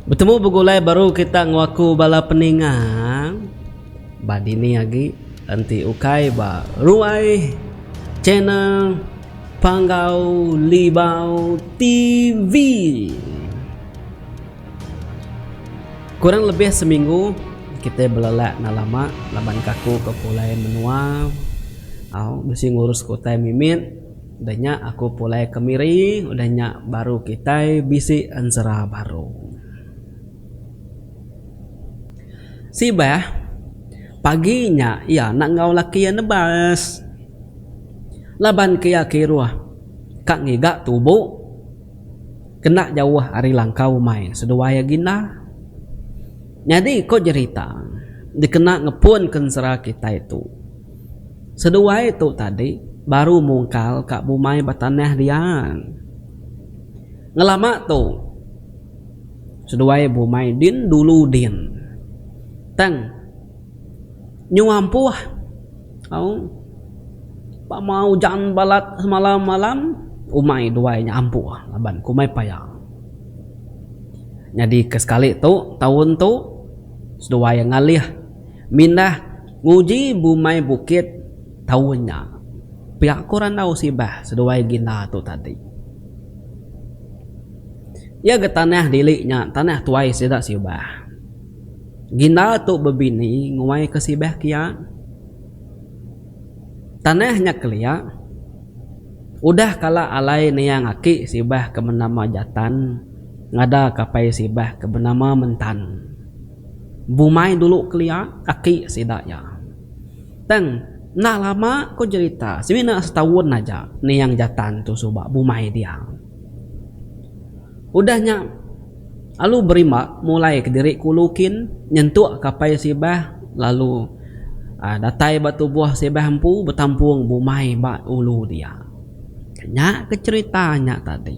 Betemu begulai baru kita ngewaku bala peninga ba dini agi enti ukai ba ruai channel Panggau Libau TV. Kurang lebih seminggu kitai belelak enggau lama laban kaku ke pulai menua bisi ngurus ke utai mimit. Udah nya aku pulai ke Miri udah nya baru kitai bisi ensera baru. Sibah pagi nya iya enda enggau laki iya nebas laban ke iya kiruh ka ngiga tubo. kena jauh ari langkau umai seduai agi enda. Nyadi ko jerita dikena ngepun ke ensera kitai tu. Seduai tu tadi baru mungkal ka bumai ba tanah diang. Ngelama tu seduai bumai din dulu din. Tang. Nyuah empuh au ba mau ujan balat semalam malam umai duai nya ampuh laban ku umai paya nyadi ke sekali tu taun tu seduai iya ngalih mindah nguji bumai bukit taun nya pia ku randau sibah seduai ginda tu tadi iya ga tanah diri nya tanah tuai sida sibah. Ginda tu bebini nguai ke sibeh kia. Tanah nya kelia. Udah kala alai niang aki sibeh ke benama Jatan ngada ke apai sibeh ke benama Mentan. Bumai dulu kelia aki sida iya. Tang enda lama ko jerita semina setaun aja niang Jatan tu suba bumai dia. Udah nya. Alu berima mulai kediri kulu kin nyentuk kapai sibah lalu datai ba tubuh sibah empu betampung bumai ba ulu dia. Nya ke cherita nya tadi.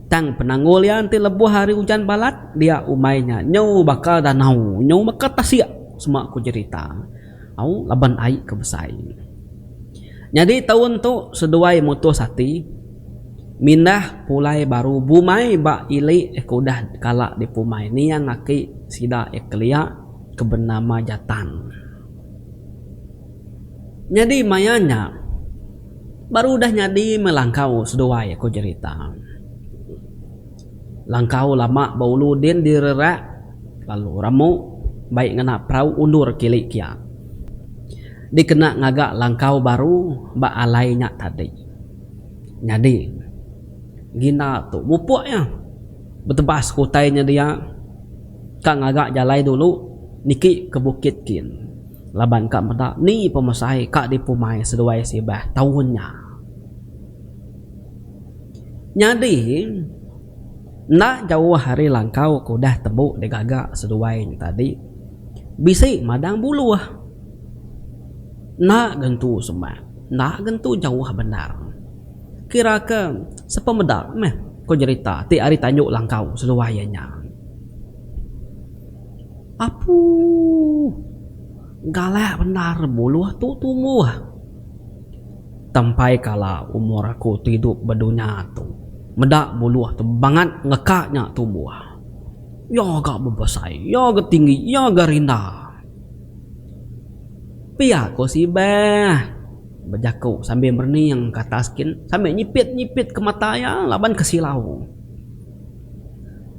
Tang penanggul iya enti lebuh ari ujan balat dia umai nya nyau baka danau nyau baka tasik sema ku cherita. Au laban ai ke besai. Nyadi taun tu seduai mutus ati mindah pulai baru bumai ba ili ke udah kala dipumai niang aki sida iya kelia ke benama Jatan. Nyadi maya nya baru udah nyadi melangkau seduai ko jerita. Langkau lama ba ulu din direrak lalu ramu bai ngena perau undur kili kia dikena ngaga langkau baru ba alai nya tadi. Nyadi Gina tu mupuk iya betebas ke utai nya dia ka ngaga jalai dulu niki ke bukit kin laban ka meda ni pemesai ka dipumai seduai sibah taun nya. Nyadi, enda jauh ari langkau ke udah tembu digaga seduai nya tadi, bisi madang buluh. Enda gentu semak, enda gentu jauh bendar. Kiraka sepemeda meh ko jerita ti ari tandu langkau seduai iya nya. Apuuh, galak bendar buluh tu tumbuh. Tampai kala umur aku tidup ba dunya tu, meda buluh tu bangat ngeka nya tumbuh. Iya ga bebesai, iya ga tinggi, iya ga rinda. Pia ko si Ibah bejaku sambil merening ke atas kin sambil nyipit-nyipit ke mata iya laban ke silau.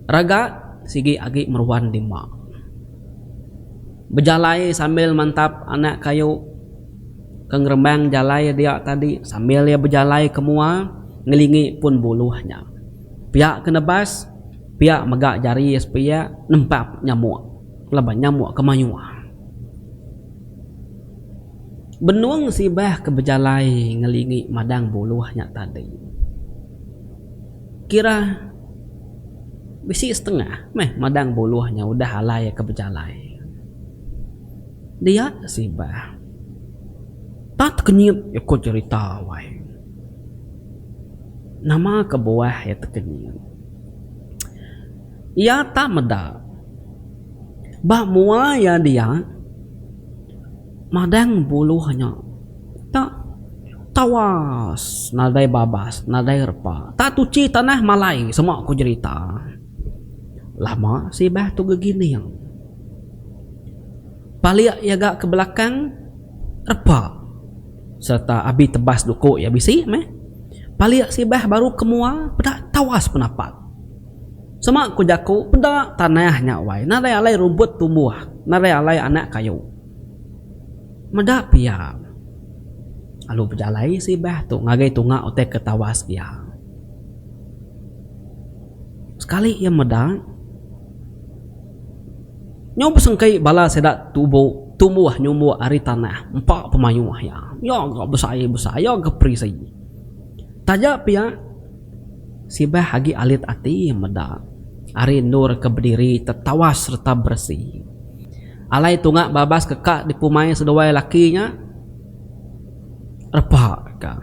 Raga sigi agi meruan dima. Bejalai sambil mantap anak kayu. ke ngerembang jalai iya dia tadi sambil iya bejalai ke mua ngelingi pun buluh nya. Pia ke nebas, pia mega jari sepia nempap nyamuk laban nyamuk ke mayuh. Benung sibah ke bejalai ngelingi madang buluh nya tadi kira bisi setengah meh madang buluh nya udah alai ke bejalai. Dia sibah. Tau tekenyit iya ko cerita wai. Nama kebuah iya tekenyit. Iya tak meda. Ba mua iya dia madang buluh nya tak tawas nadai babas nadai repa tak tuchi tanah malai semua ko jerita. Lama sibah tu gegining. Palik iya ga ke belakang repa sereta abi tebas duku iya bisi meh. Palik sibah baru ke mua peda tawas penapak. Sema ku jaku peda tanah nya wai narai alai rumput tumbuh narai alai anak kayu. Meda pia lalu bejalai sibah tu ngagai tunga utai ke tawas iya. Sekali iya meda, nyau besengkei bala sida tubo tumbuh nyumuk ari tanah empa pemayuh iya. Iya ga besai besai iya ga perisi. Taja pia sibah agi alit ati iya meda ari endur ke bediri tetawas sereta beresi. Alai tunga babas ke ka dipumai seduai laki nya repa ka.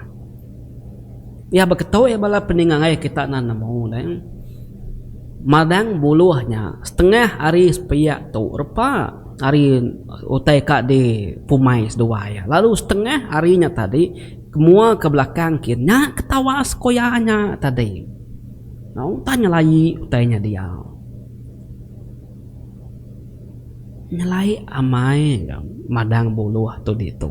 Iya beketuai bala peningai kita enda nemu deh. Madang buluh nya setengah hari sepiak tu repa hari utai ka di pumai seduai iya. Lalu setengah hari nya tadi kemua ke belakang kin nya ke tawa sekoya nya tadi. Nya utai nyelai utai nya dia. Nyelai amai ga madang buluh tu ditu.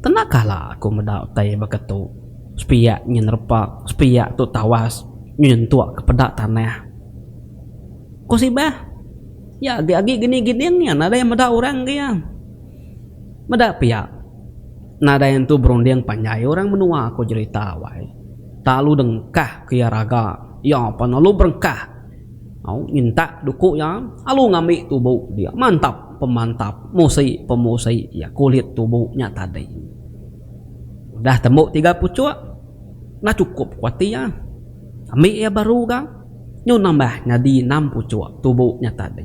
Tenaka la aku meda utai baka tu, sepiak nyin repak, sepiak tu tawas nyin entuk ke peda tanah. Ku Sibah, Iya agi agi gini giding iya nadai meda orang ke iya. Meda pia, nadai entu berunding panjai orang menua aku jerita awai. Tak alu dengkah ke iya raga, iya pan alu berengkah. Au, nyentak duku iya alu ngambi tubu dia. Mantap. pemantap musi pemusi iya kulit tubu nya tadi udah tembu tiga puchuk dah chukup ku ati iya ambi iya baru ga nyu nambah nyadi enam puchuk tubu nya tadi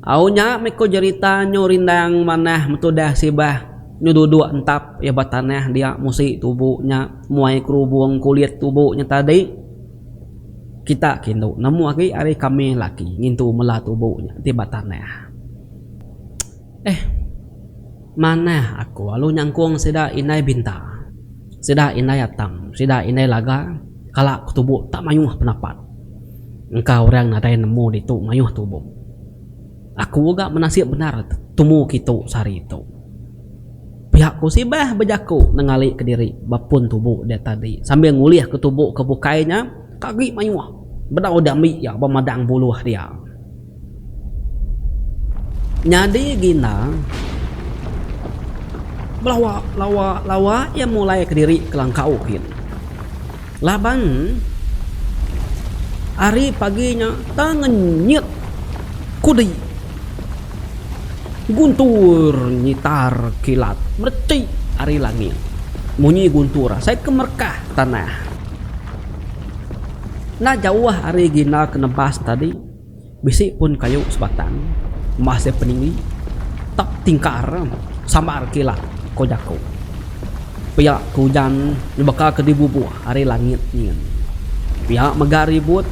au nya mih ku jerita nyu rindang manah metudah sibah nyu duduk entap iya ba tanah dia musi tubu nya muai kerubung kulit tubu nya tadi. Kita ke indu nemu agi ari kami laki ngintu mela tubu nya ti ba tanah. Eh. Manah aku alu nyangkung sida indai Binta, sida indai Atam, sida indai Laga kala ke tubu tak mayuh penapat. Engka orang nadai nemu ditu mayuh tubu. Aku ga menasip bendar tumu kitu sehari tu. Pihak ku Sibah bejaku nengali kediri ba pun tubu dia tadi sambil ngulih ke tubu ke bukai nya ka agi mayuh bedau diambi iya ba madang buluh dia. Nyadi ginda belawa lawa lawa iya mulai kediri ke langkau gin. Laban ari pagi nya tang ngenyit kudi guntur nyitar kilat mereti ari langit. Munyi guntur asai ke merekah tanah. Enda jauh ari gina ke nebas tadi. Bisi pun kayu sebatang mah se peninggi tap tingkar sambar kila ko jaku. Pia ke ujan nyebaka ke dibubuh ari langit nyin. Pia mega ribut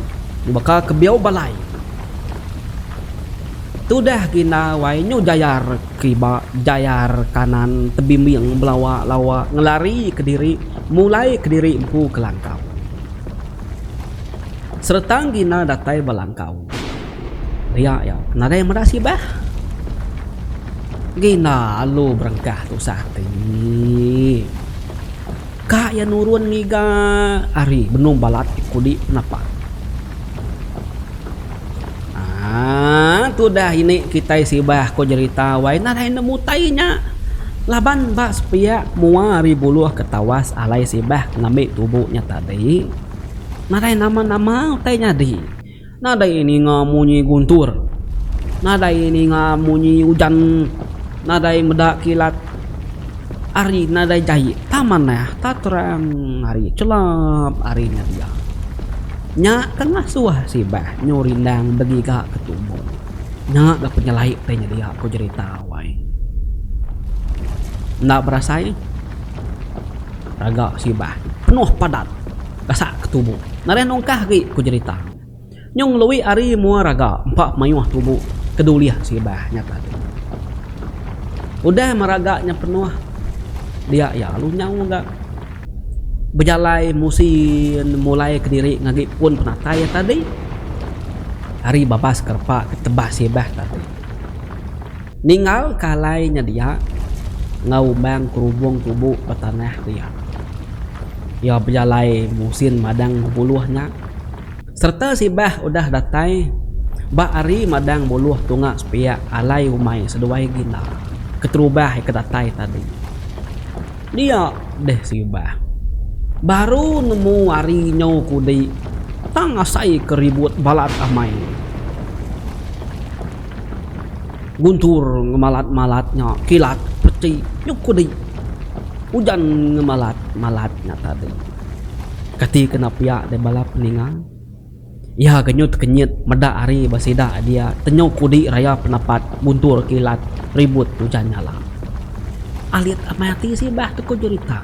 nyebaka ke biau balai. Tudah gina wai nyu jayar kiba jayar kanan tebimbing belawa lawa ngelari kediri mulai kediri empu ke langkau. Seretang Gina datai ba langkau. Ria iya nadai meda sibah. Gina alu berengkah tusah ati. Ka iya nurun ngiga ari benung balat ti kudi napak. Haa tudah ini kitai sibah ko jerita wai nah lain nemu utai nya laban ba sepiak mua ari buluh ke tawas alai sibah ke ngambi tubu nya tadi nadai nama nama utai nyadi nadai ninga munyi guntur nadai ninga munyi ujan nadai meda kilat ari nadai jai tama nah ta terang ari chelap ari nya dia. Nya tengah suah sibah nyu rindang begiga ke tumu. Nya ga ku nyelai utai nya dia ku jerita wai. Enda berasai raga sibah penuh padat gasak ke tumu. Nereh nungkah agi ku jerita nyu ngelui ari mua raga empa mayuh tumu ke dulih sibah nya tadi. Udah meraga nya penuh dia iya alu nyau ga. Bejalai musi mulai kediri ngagi pun penatai iya tadi ari babas ke repa ke tebas sibah tadi. Ninggalka alai nya dia enggau umang kerubong tubu ba tanah dia. Iya bejalai musin madang bebuluh nya. Sereta sibah udah datai ba ari madang buluh tunga sepiak alai umai seduai gila keterubah ika datai tadi. Dia deh sibah baru nemu ari nyau kudi tang asai ke ribut balat amai guntur ngemalat-malat nya kilat peti nyau kudi ujan ngemalat-malat nya tadi. Kati kena piak deh bala peninga? Iya genyut kenyit meda ari ba sida dia tenyo kudi raya penepat buntur kilat ribut tujan nyala. Alit amai ati sibah tuku jerita.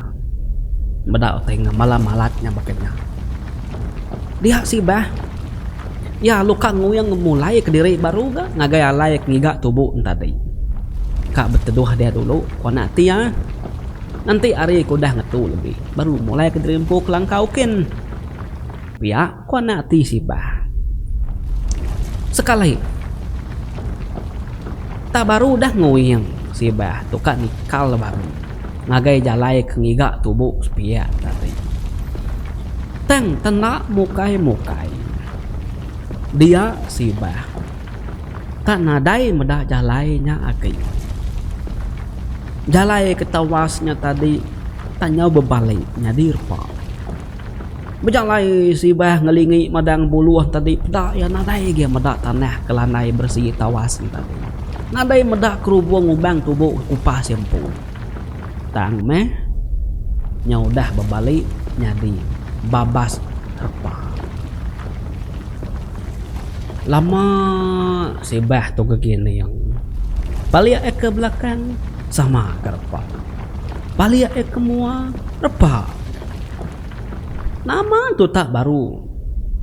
Meda utai enggau bala malat nya baka nya. Dia sibah iya luka nguing mulai kediri baru ga ngagai alai ke ngiga tubu enti tadi. Ka beteduh dia dulu ku anak ati iya. Enti ari ke udah ngetu lebih baru mulai ke diri empu kelangkau kin pia ko anak ati sibah. Sekali tah baru udah nguing sibah tu ka nikal baru ngagai jalai ke ngiga tubu sepia tadi. Tang tenda mukai mukai dia sibah. Ka nadai meda jalai nya agi. Jalai ke tawas nya tadi tang nyau bebali nyadi repa. Bejalai sibah ngelingi madang buluh tadi peda iya nadai agi meda tanah ke landai beresi tawas nya tadi. Nadai meda kerubung umbang tubo kupas iya empu. Tang meh nya udah bebali nyadi babas repa. Lama sibah tu gegi ning. Palik ai ke belakang sama ke repa. Palik ai ke mua repa. Nama tu tak baru.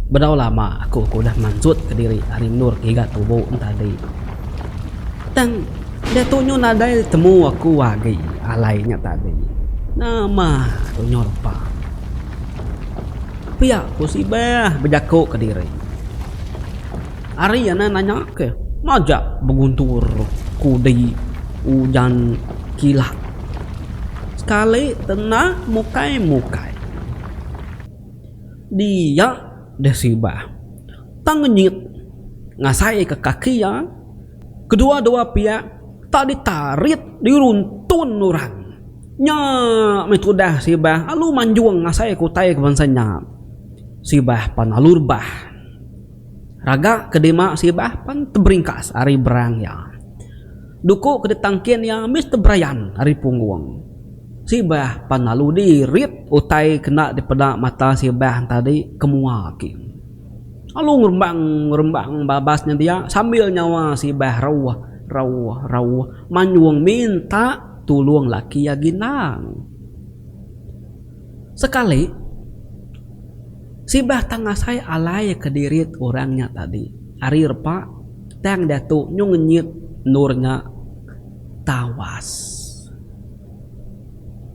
Bedau lama aku ke udah mansut kediri ari endur ke iga tubo entadi. Tang diatu nyu nadai temu aku agi alai nya tadi. Nama tu nyu repa. Pia ku si Beh bejaku ke diri. Ari iya nan nanya ke majak beguntur kudi ujan kilat. Sekali tenah mukai mukai. Dia deh si Beh tang ngenyit ngasai ke kaki iya kedua dua pia tak ditarit diruntun orang. Nya meh tudah Sibah alu manjung ngasai ke utai ke bansa nya. Sibah pan alu rebah. Raga ke dima Sibah pan teberingkas ari berang iya. Duku ke ditangkin iya mesti berayan ari punggung. Sibah pan alu dirit utai ke enda dipeda mata Sibah entadi ke mua agi. Alu ngerembang-ngerembang babas nya dia sambil nyawa Sibah rauh-rauh-rauh manjung minta. tulung laki agi endang. Sekali, sibah tang asai alai kedirit orang nya tadi. Ari repa, tang diatu nyu ngenyit endur nya tawas.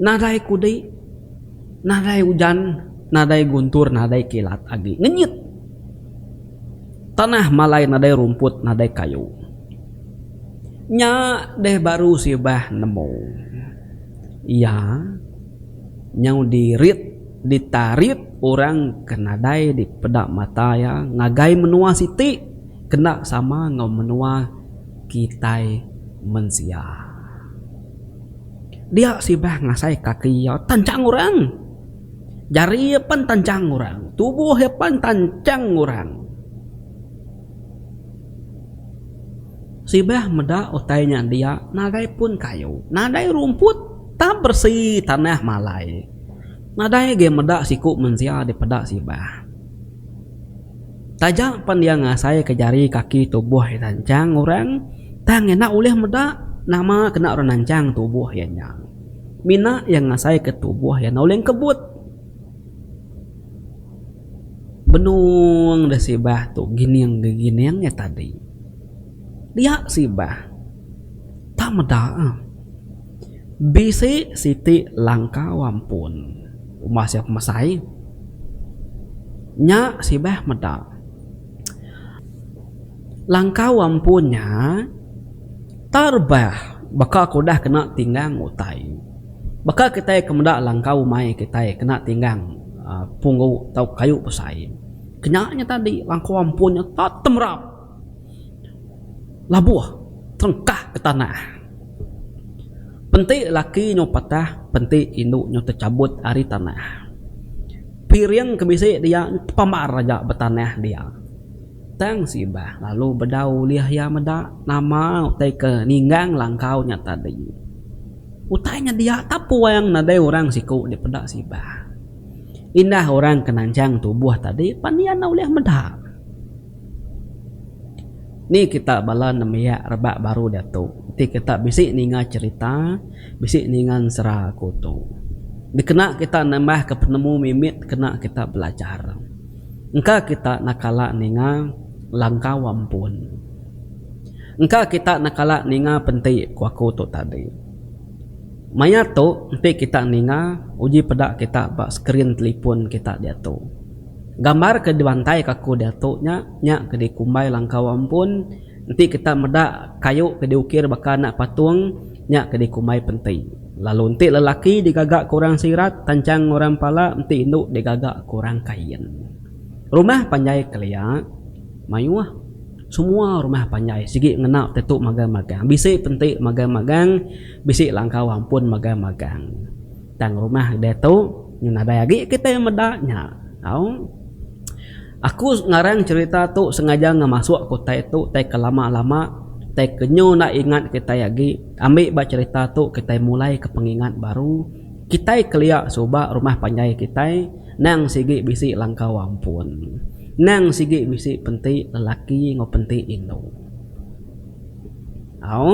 Nadai kudi, nadai ujan, nadai guntur, nadai kilat agi. Ngenyit! Tanah malai nadai rumput, nadai kayu. Nya deh baru sibah nemu iya nyau dirit ditarit orang ke nadai dipeda mata iya ngagai menua siti kena sama enggau menua kitai mensia. Dia sibah ngasai kaki iya tanchang orang. Jari iya pan tanchang orang. Tubuh iya pan tanchang orang. Sibah meda utai nya dia nadai pun kayu, nadai rumput tang beresi tanah malai. Nadai agi meda siku mensia dipeda sibah. Taja pen iya ngasaika jari kaki tubuh iya nancang orang tang enda ulih meda nama kena orang nancang tubuh iya nya. Mina iya ngasaika tubuh iya enda ulih ngkebut. Benung deh sibah tu gining deh gining eh tadi. Dia sibah. Tang meda eh. Bisi siti langkau ampun umbah sia pemesai. Nya sibah meda. Langkau ampun nya terbah baka ke udah kena tinggang utai. Baka kitai ke meda langkau umai kitai kena tinggang punggu tau kayu besai, kenya nya tadi langkau ampun nya tetap temerap labuh terengkah ke tanah. Penti laki nyau patah, penti indu nyau techabut ari tanah. Piring ke bisi dia nyau tepambar aja ba tanah dia. Tang Sibah lalu bedau ulih iya meda nama utai ke ninggang langkau nya tadi. Utai nya dia tapuang nadai orang siku dipeda Sibah. Indah orang ke nanjang tubuh tadi pan iya enda ulih meda. Ni kita bala nembiak rebak baru diatu enti kita bisi ninga cherita, bisi ninga ensera aku tu dikena kita nambahka penemu mimit kena kita belajar. Engka kita enda kala ninga langkau ampun. Engka kita enda kala ninga penti ku aku tu tadi. Maya tu enti kita ninga uji peda kita ba skrin telipon kita diatu. Gambar ke dibantaika aku diatu nya, nya ke dikumbai langkau ampun enti kita meda kayu ke diukir baka anak patung. Nya ke dikumbai penti. Lalu enti lelaki digaga ke orang Sirat, tanchang orang Pala enti indu digaga ke orang Kain. Rumah panjai kelia, mayuh. Semua rumah panjai sigi ngena tetu magang-magang. Bisi penti magang-magang, bisi langkau ampun magang-magang. Tang rumah ditu nadai agi kitai meda nya. Au. Aku ngarang cherita tu sengaja ngemasuk ke utai tu tai ke lama lama tai ke nyu enda ingat kitai agi ambi ba cherita tu kitai mulai ke pengingat baru kitai kelia suba rumah panjai kitai nang sigi bisi langkau ampun nang sigi bisi penti lelaki enggau penti indu au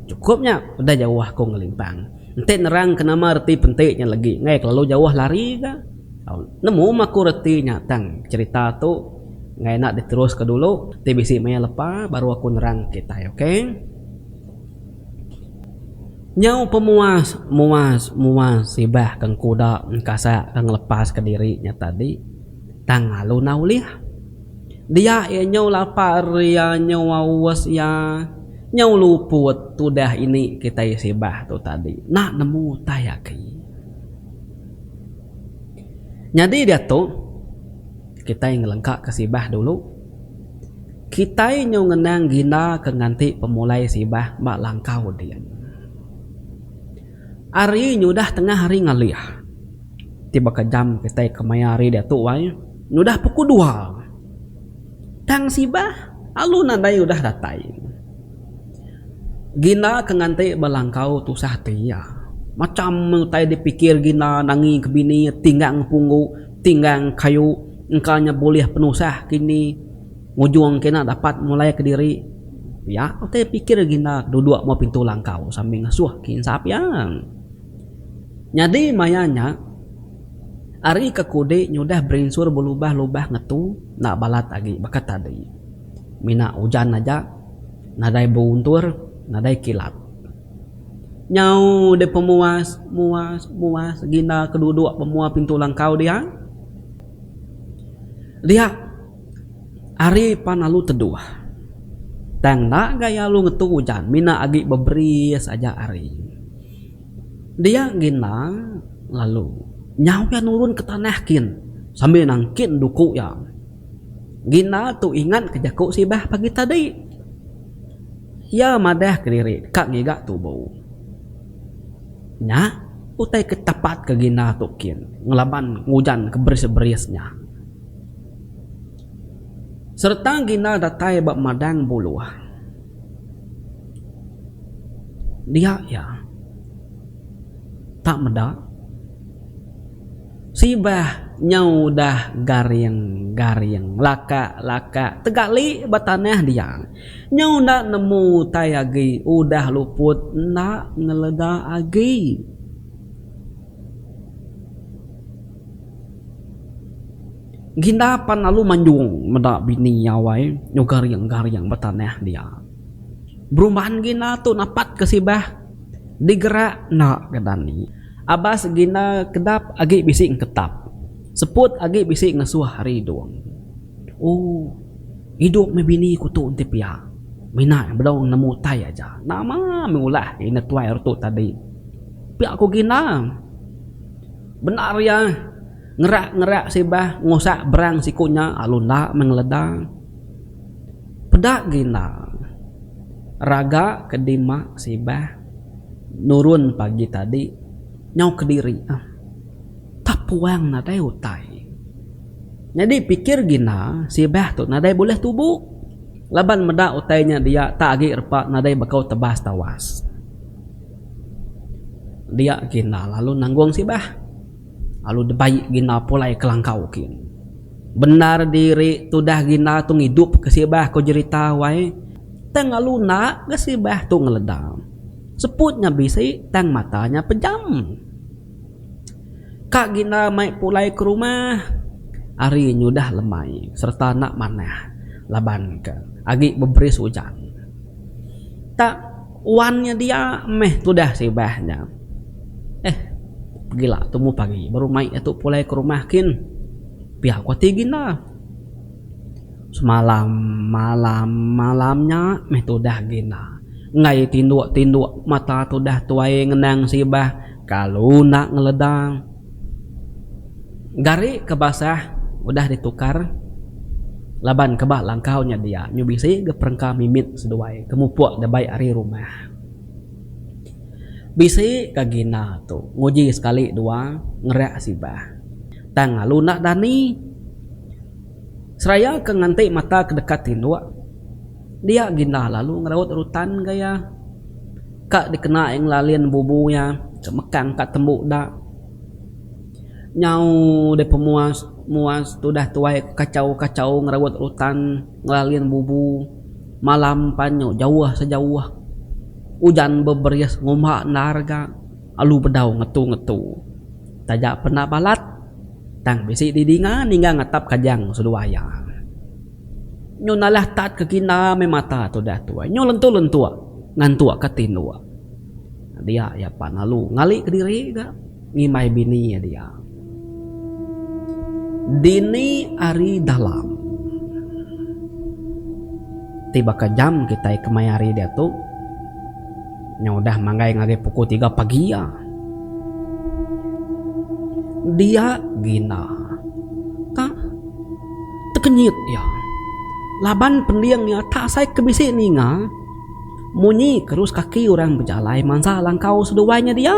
cukup nya udah jauh aku ngelimpang. Enti nerangka nama reti penti nya legi enggai kelalu jauh lari ga. Au nemu maku reti nya tang cherita tu enggai enda diteruska dulu ti bisi maya lepa baru aku nerang kitai ok. Nyau pemuas muas muas sibah kang kuda engkasak ka ngelepaska diri nya tadi. Tang lalu enda ulih. Dia iya nyau lapa ria nyau aus iya nyau luput tudah ini kitai sibah tu tadi enda nemu utai agi. Nyadi diatu kitai ngelengkaka sibah dulu. Kitai nyau ngenang ginda ke nganti pemulai sibah ba langkau din. Ari nyudah tengah hari ngalih. Ti baka jam kitai ke maya hari diatu ai nyudah pukul dua. Tang sibah alu nadai udah datai. Gina ke nganti ba langkau tusah ati iya. Macham utai dipikir Gina nangi ke bini iya tinggang punggu, tinggang kayu engka nya bulih penusah kini. Ngujung kena dapat mulai kediri pia utai pikir Ginda ke duduk muat pintu langkau sambil ngasuh ke insa pia. Nyadi maya nya, ari ke kudi nyudah berinsur belubah-lubah ngetu enda balat agi baka tadi. Mina ujan aja, nadai beruntur, nadai kilat. Nyau deh pemuas, muas, muas Ginda ke duduk ba muat pintu langkau dia. Dia. Ari pan alu teduh. Tang enda gaya alu ngetu ujan mina agi beberi saja ari. Dia gin enda lalu nyau iya nurun ke tanah kin sambil nangkin duku iya. Gin enda tu ingat ke jaku sibah pagi tadi. Iya madah ke diri deka ngiga tubu. Nya utai ke tapat ke gin enda tu kin ngelaban ujan ke beris-beris nya. Sereta gina datai ba madang buluh. Dia iya. Tak meda. Sibah nyau udah garing garing lakak lakak tegali ba tanah dia. Nyau enda nemu utai agi udah luput enda ngelega agi. Ginda pan lalu manjung meda bini iya wai nyau garing-garing betanah dia. Berumban Ginda tu napat ke sibah digerak enda ke dani. Abas Ginda kedap agi bisi engketap, seput agi bisi ngesuh ari Idung. Ooh Idung meh bini ku tu enti pia. Mina iya bedau nemu utai aja. Nama meh ulah iya netuai ari tu tadi. Pia ku Ginda. Bendar iya, ngerak-ngerak sibah ngusak berang siku nya alu enda meh ngeleda. Peda agi enda. Raga ke dima sibah nurun pagi tadi nyau kediri ah. Tapuang nadai utai. Nyadi pikir agi enda sibah tu nadai bulih tubu laban meda utai nya dia tak agi repa nadai baka tebas tawas. Dia kina lalu nanggung sibah. Lalu debai gina pulai kelangkau kin. Bendar diri tudah gina tu ngidup ke sibah ko jerita wai. Tang lalu enda ga sibah tu ngeleda. Seput nya bisi tang mata nya pejam. Ka gina mai pulai ke rumah. Hari nyudah lemai serta enda manah laban ka agi beberis ujan. Tak. Wan nya dia meh tudah sibah nya. Eh, pegila tumu pagi baru mai iya tu pulai ke rumah kin. Pia ku ati gin da. Semalam malam malam nya meh tudah gin da. Enggai tinduk-tinduk mata tudah tuai ngenang sibah kalu enda ngeledang. Gari ke basah udah ditukar laban ke ba langkau nya dia nyu bisi ga perengka mimit seduai ke mupuk dabai ari rumah. Bisi ga gina tu nguji sekali dua ngereak sibah. Tang lalu enda dani. Seraya ke nganti mata ke deka tinduk. Dia gindah lalu ngeraut rutan ga iya. Ka dikena iya ngelalin bubu iya ke mekang ka tembu da. Nyau deh pemuas muas tudah tuai ke kachau kachau ngeraut rutan ngelalin bubu. Malam pan nyu jauh sejauh ujan beberis ngumba endar ga alu bedau ngetu ngetu. Taja penda balat tang bisi didinga ningga ngatap kajang seduai iya. Nyu nalah tat ke kina meh mata tudah tuai. Nyu lentuk-lentuk ngantuk ke tinduk. Dia iya pan lalu ngali kediri ga ngimbai bini iya dia. Dini ari dalam ti baka jam kitai kemayahari diatu nyau udah manggai ngagai pukul tiga pagi iya. Dia gina ka. Tekenyit iya laban pending iya tak sai ke bisi ninga munyi kerus kaki orang bejalai mansa langkau seduai nya dia.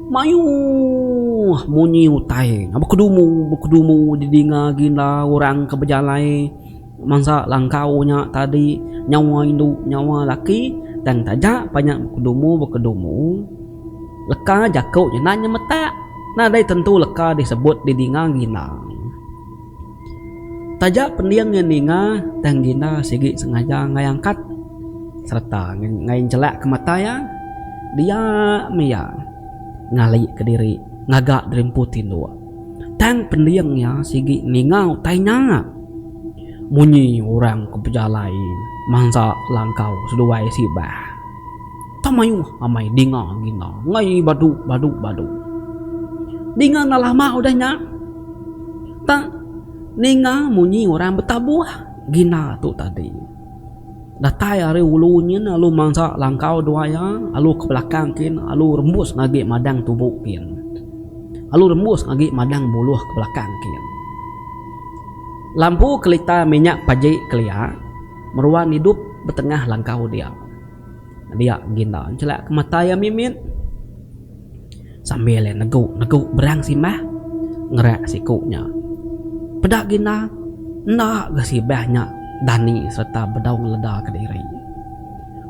Mayuh munyi utai nya bekedumu bekedumu didinga ginda orang ke bejalai mansa langkau nya tadi nyawa indu nyawa laki tang taja pan nya bekedumu bekedumu leka jaku nya enda nyemetak nadai tentu leka disebut didinga ginda. Taja pending iya ninga tang gina sigi sengaja enggai angkat sereta enggai njelak ke mata iya dia meh iya ngalika diri ngaga diri empu tinduk. Tang pending iya sigi ninga utai nya munyi orang ke bejalai mansa langkau seduai sibah. Tang mayuh amai dinga gina ngai badu badu badu. Dinga enda lama udah nya. Tang ninga munyi orang betabuh gina tu tadi. Datai ari ulu nyin alu mansa langkau dua iya alu ke belakang kin alu rembus ngagi madang tubu kin. Alu rembus ngagi madang buluh ke belakang kin. Lampu kelita minyak paji kelia meruan idup betengah langkau dia. Dia Ginda nchelak ke mata iya mimit sambil iya negu negu berang simbah ngerak siku nya. Peda Ginda enda ga sibah nya dani sereta bedau ngeleda kediri.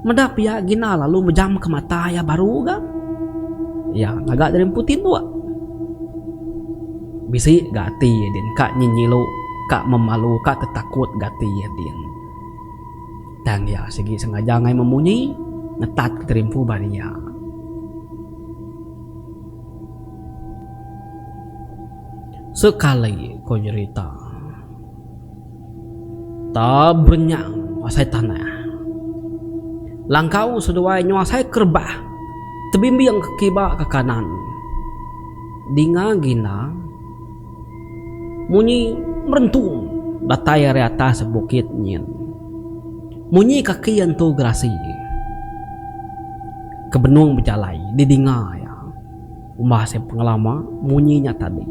Meda pia Ginda lalu mejam ke mata iya baru ga. Iya ngaga diri empu tinduk. Bisi ga ati iya din ka nyenyilu ka memalu ka tetakut ga ati iya din. Tang iya sigi sengaja angai memunyi ngetat ke terimpu bari iya. Sekali ko jerita. Ta berenyang asai tanah. Langkau seduai nyau asai kerebah tebimbing ke kiba ke kanan. Dinga gina. Munyi merentung datai ari atas bukit nyin. Munyi kaki Entu Gerasi ke benung bejalai didinga iya. Umbah seh pengelama munyi nya tadi.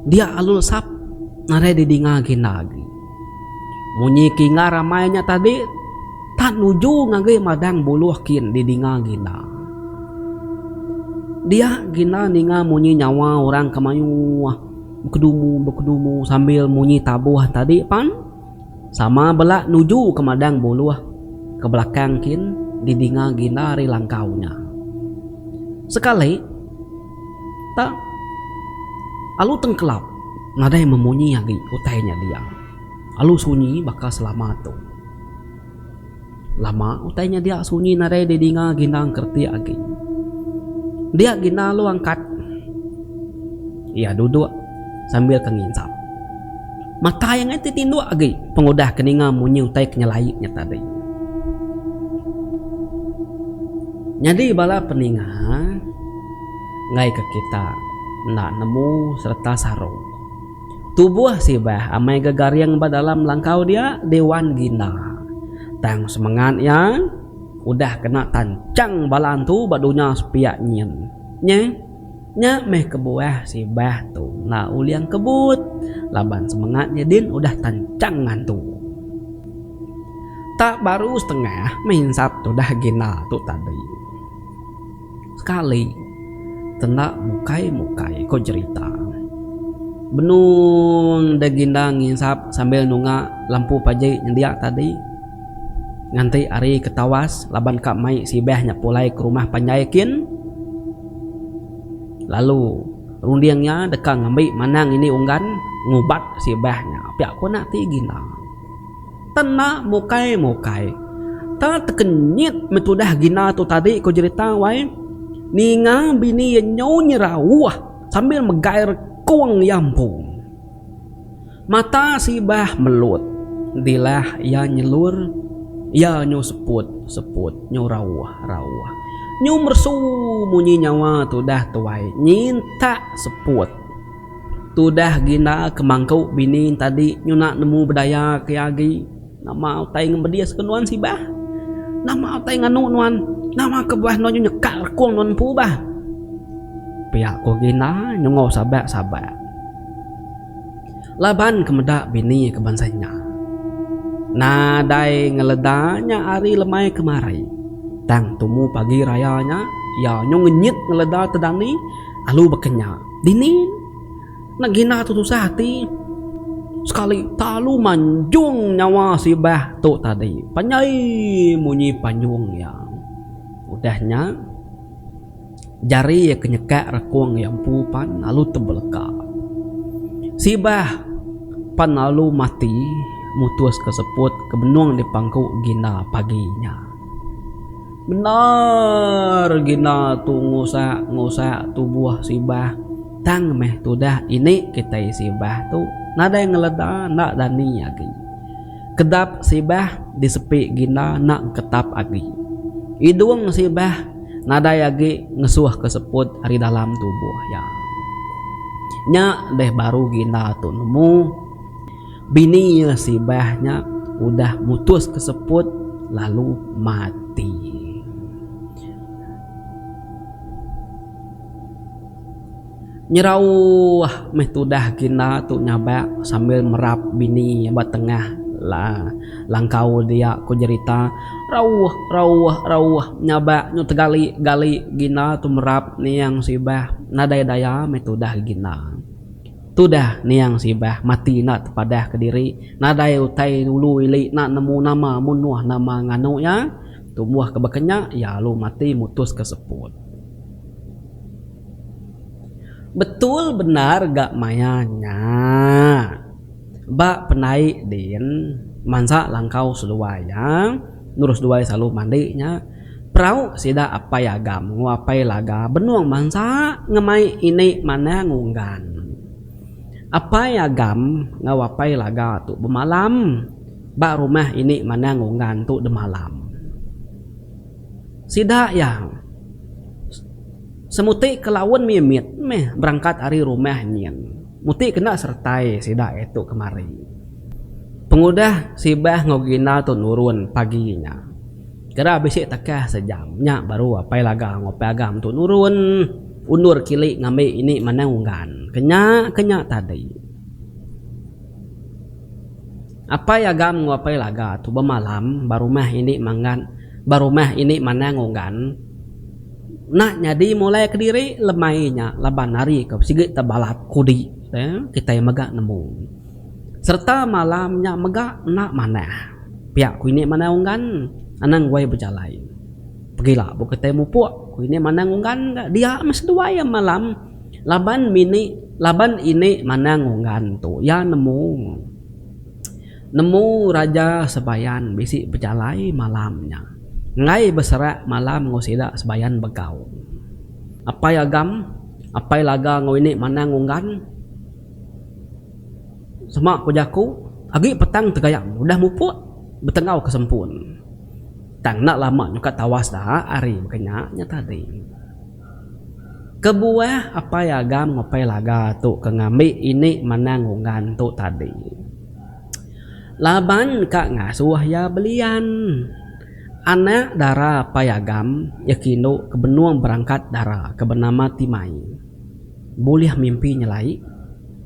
Dia Alul Sap nadai didinga ginda agi. Munyi kingar amai nya tadi tak nuju ngagai madang buluh kin didinga Gina. Dia Gina ninga munyi nyawa orang ke mayuh bekedumu bekedumu sambil munyi tabuh tadi pan sama bela nuju ke madang buluh ke belakang kin didinga Gina ari langkau nya. Sekali. Tang alu tengkelap nadai memunyi agi utai nya dia. Alu sunyi baka selama tu. Lama utai nya dia sunyi nadai didinga ginang keretik agi. Dia gina alu angkat. Iya duduk sambil ke nginsap. Mata iya ngai ti tinduk agi pengudah ke ninga munyi utai ke nyelai nya tadi. Nyadi bala peninga. ngaika kita enda nemu sereta sarung. Tubuh sibah amai ga garing ba dalam langkau dia diwan ginda. Tang semengat iya udah kena tanchang bala antu ba dunya sepiak nyin. Nya, nya meh kebuah sibah tu enda ulih engkebut laban semengat iya din udah tanchang ngantu. Tak baru setengah meh insat tudah ginda tu tadi. Sekali, tenda mukai-mukai ko jerita. Benung deh ginda nginsap sambil nunga lampu paji nyendia tadi. Nganti ari ke tawas laban ka mai sibah nya pulai ke rumah panjai kin. Lalu runding nya deka ngambi manang ini unggan ngubat sibah nya pia ko nati ginda. Tena mukai mukai. Ta tekenyit me tudah gina tu tadi ko jerita wai. Ninga bini iya nyau nyerauh sambil megai rekong iya empu. Mata sibah melut dilah iya nyelur iya nyau seput seput nyau rauh rauh. Nyau meresu munyi nyawa tudah tuai nyintak seput. Tudah Gina ke mangku bini tadi nyuna nemu bedaya ke agi. Nama utai ngemedis ke nuan sibah? Nama utai nganu nuan? Nama ke bah nuan nyekak rekung nuan empu bah? Pia ku Gina nyungau sabak sabak. Laban ke meda bini ke bansa nya. Nadai ngeleda nya hari lemai kemari. Tang tumu pagi raya nya iya nyu ngenyit ngeleda te dani alu baka nya. Dini enda gina tu tusah ati sekali talu manjung nyawa sibah tu tadi panjai munyi panjung iya. Udah nya jari iya ke nyekak rakung iya empu pan lalu tebeleka. Sibah pan lalu mati mutuska seput ke benung dipangku Gina pagi nya. Bendar gina tu ngusak ngusak tubuh sibah tang meh tudah ini kitai sibah tu nadai ngeleda enda dani agi. Kedap sibah disepi gina enda ketap agi. Idung sibah nadai agi ngesuh ke seput ari dalam tubuh iya. Nya deh baru gina tu nemu. Bini iya Sibah nya udah mutus ke seput lalu mati. Nyerauh meh tudah kina tu nyabak sambil merap bini iya ba tengah langkau dia ku jerita. Rauh rauh rauh nyabak nyu tegali gali gina tu merap niang Sibah nadai daya meh tudah gina. Tudah niang sibah mati enda tepadah kediri nadai utai ulu ili enda nemu nama mun nuh nama nganu iya tumbuh ke bekenya iya alu mati mutus ke seput. Betul bendar ga maya nya. Ba pendaik din mansa langkau seduai iya nurus duai salu mandi nya. Perau sida apai agam enggau apai laga benung bansa ngemai ini manang unggan. Apai agam enggau apai laga tu bemalam ba rumah ini manang unggan tu demalam. Sida iya semuti ke laun mimit meh berangkat ari rumah nyin. Muti kena seretai sida iya tu kemari. Pengudah sibah enggau ginda tu nurun pagi nya. Kira bisi takah sejam nya baru Apai Laga enggau Apai Agam tu nurun undur kili ngambi ini manang unggan ke nya ke nya tadi. Apai Agam enggau Apai Laga tu bemalam ba rumah ini manggan ba rumah ini manang unggan enda nyadi mulai kediri lemai nya laban ari ke sigi tebalat kudi kitai mega nemu. Sereta malam nya mega enda manah. Pia ku ini Manang Unggan anang wai bejalai. Pegila buh kitai mupuk ku ini Manang Unggan ga dia meh seduai iya malam laban mini laban ini Manang Unggan tu iya nemu nemu Raja Sebayan bisi bejalai malam nya enggai beserak malam enggau sida Sebayan Begau. Apai Agam apai Laga enggau ini Manang Unggan. Sema ku jaku, agi petang tegayam udah mupuk betenggau ke sempun. Tang enda lama nyukat tawas da ari baka nya nya tadi. Kebuah apai agam ngupai laga tu ke ngambi ini manang unggan tu tadi. Laban ka ngasuh iya belian. Anak dara apai agam iya kindu ke benung berangkat dara ke benama Timai. bulih mimpi nyelai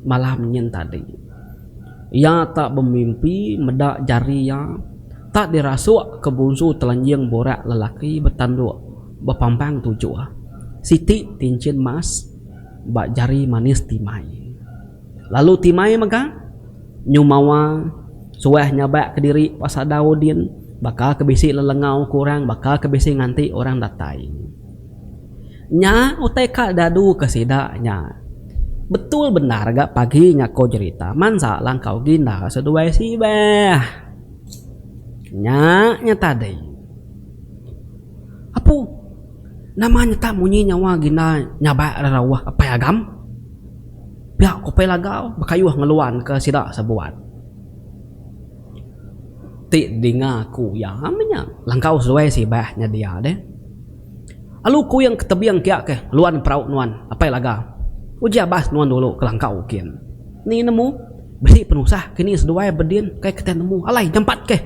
malam nyin tadi. Iya tak bemimpi meda jari iya tak dirasuk ke bunsu telenjing burak lelaki betanduk bepampang tujuh, siti tinchin mas ba jari manis Timai. Lalu Timai mega nyumawa suah nyabak kediri ba sadau din baka ke bisi lelengau ke orang, baka ke bisi nganti orang datai. Nya utai ka dadu ke sida nya. Betul bendar ga pagi nya ko jerita mansa langkau ginda seduai sibeh. Nya nya tadi. Apu nama nyetap munyi nyawa ginda nyabak rerauh apai agam. Pia ko apai lagau bekayuh ngeluan ke sida sebuat. Ti dinga ku iya meh nya langkau seduai sibeh nya dia deh. Alu kuing ke tebing kia ke luan perau nuan apai laga. Uji abas nuan dulu ke langkau ukin. Ni nemu? Bisi penusah kini seduai bedin kai ke tai nemu alai nyampat ke.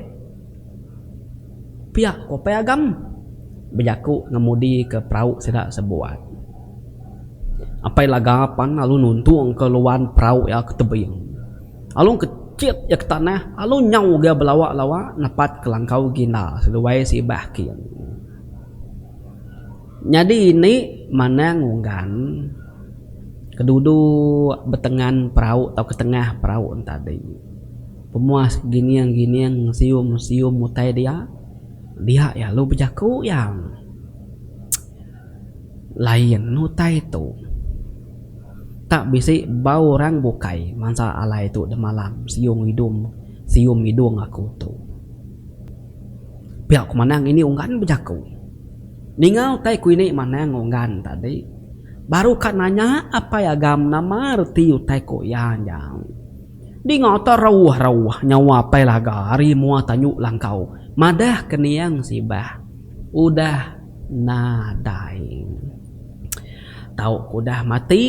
Pia ku apai agam bejaku ngemudi ke perau sida sebuat. Apai laga pan lalu nuntung ke luan perau iya ke tebing. Alu ke chit iya ke tanah alu nyau ga belawa lawa napat ke langkau ginda seduai sibah kin. Nyadi indi manang unggan ke duduk betengan perau atau ke tengah perau entadi. Pemuas gining-gining sium-sium utai dia, dia iya lalu bejaku iya. Lain utai tu. Tak bisi bau orang bukai mansa alai tu demalam siung idung sium idung aku tu. Pia ku Manang ngini Unggan bejaku. Ninga utai ku ini Manang Unggan tadi baru ka nanya Apai Agam nama reti utai ku iya nyau. Dinga terauh-rauh nyawa Apai Laga ari mua tanyu langkau madah kening sibah udah nadai. Tau ke udah mati,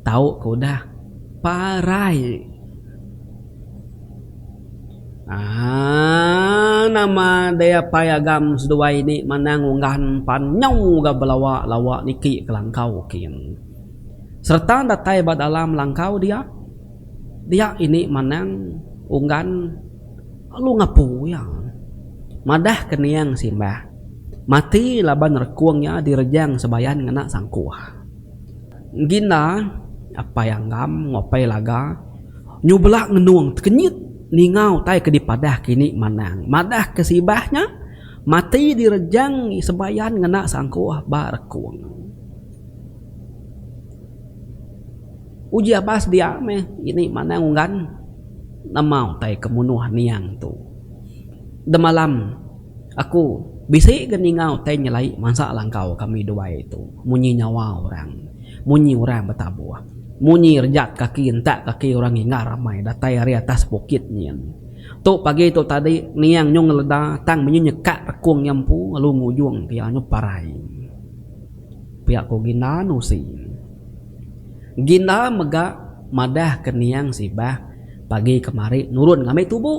tau ke udah parai. Aang nama dei apai agam seduai ni manang unggan pan nyau ga belawa lawa niki kelangkau kin. Sereta datai ba dalam langkau dia dia ini manang unggan lalu ngapu iya. Madah kening simbah mati laban rekung iya direjang sebayan ngena sangkuh. Ngina apai anggam enggau apai laga nyubla ngenung tekenyit ninga utai ke dipadah ke ini manang madah ke sibah nya mati direjang sebayan ngena sangkuh ba rekung. Uji abas dia meh ini manang unggan nama utai ke munuh niang tu demalam. Aku bisi ga ninga utai nyelai mansa langkau kami duai tu munyi nyawa orang, munyi orang betabuh, munyi rejat kaki entak kaki orang inggar amai datai ari atas bukit nyin. Tu pagi tu tadi niang nyung ngeleda tang menyu nyekak rekung iya empu lalu ngujung pia nyu parai pia ku Ginda nusi. Ginda mega madah ke niang sibah pagi kemari nurun ngambi tubu.